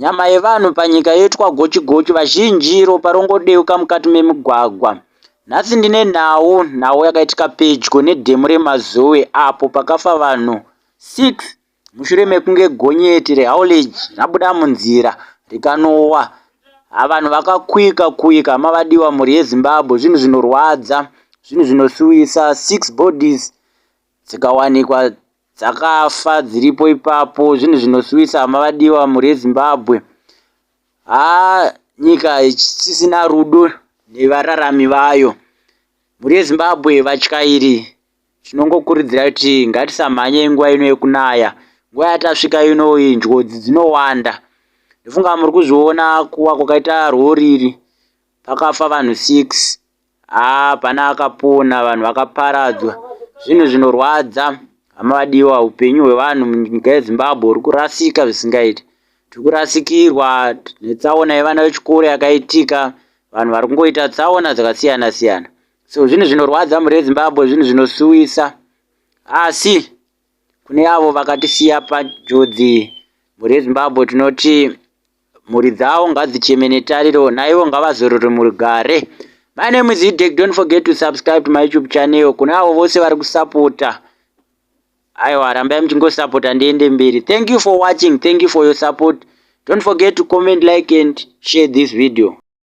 Nyama yevanhu panyika yoitwa gochi-gochi, vazhinji ropa rongodeuka mukati memigwagwa. Nhasi ndine nhau, nhau yakaitika pedyo nedhemu reMazowe apo pakafa vanhu 6 mushure mekunge gonyeti reHauledge rabuda munzira rikanowa. Ha, vanhu vakakuika kuika, hama vadiwa, mhuri yeZimbabwe, zvinhu zvinorwadza, zvinhu zvinosuwisa, six bodies dzikawanikwa dzakafa dziripo ipapo zvinhu zvinosuwisa hama vadiwa mhuri yezimbabwe haa nyika isisina rudo nevararami vayo mhuri yezimbabwe vatyairi tinongokurudzira kuti ngatisamhanye nguva ino yekunaya nguva yatasvika ino iyi njodzi dzinowanda ndofunga muri kuzviona kuwa kwakaita rori iri Pakafa vanhu 6 haa pana akapona vanhu vakaparadzwa zvinhu zvinorwadza hama vadiwa upenyu hwevanhu munyika yezimbabwe huri kurasika zvisingaiti tiri kurasikirwa netsaona yevana vechikoro yakaitika vanhu vari kungoita tsaona dzakasiyana siyana so zvinhu zvinorwadza mhuri yezimbabwe zvinhu zvinosuwisa asi kune avo vakatisiya panjodzi mhuri yezimbabwe tinoti Mhuri dzawo ngadzicheme netariro naivo ngavazorore murugare. My name is Idek. Don't forget to subscribe to my YouTube channel. Kuna avo vose vari kusapota. Aiwa rambai muchingosapota ndiende mberi. Thank you for watching. Thank you for your support. Don't forget to comment, like and share this video.